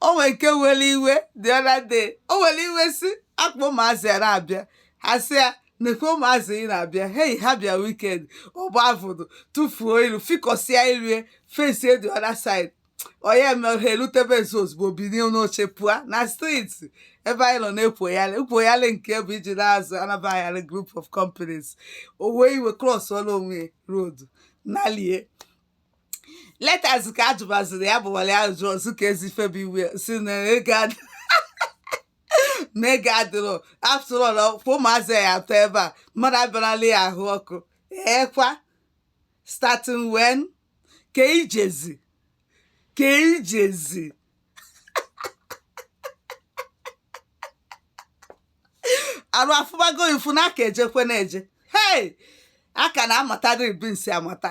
o nwere nke were iwe the other day o were iwe si akpọ ụmụazị ya na-abịa ha sị ya nekwe ụmụazị ị na-abịa hei ha bịa weekend ọ gba avụdụ tụfuo iru fikọsịa iru face the other side onye mere ha erutebe nso ozugbo bilie n'oche pụa na street ebe anyị nọ na-ekwoyalị ekwoyalị nke bụ iji na-azụ anabaghara group of companies o wee iwe cross ọrụ onwe ya road nalie later zi ka a jụbaziri ya bụwara ya ajụ ọzọ ka ezi febe iwe si na ego adị na ego adịrọ after all kwa ụmụazị ya atọ ebe a mmadụ abịarala ya ahụ ọkụ ekwa starting when ka i jezi ka i jezi arụ afụbago ifu na a ka ejekwe na-eje hei a ka na-amatara ibinsi amata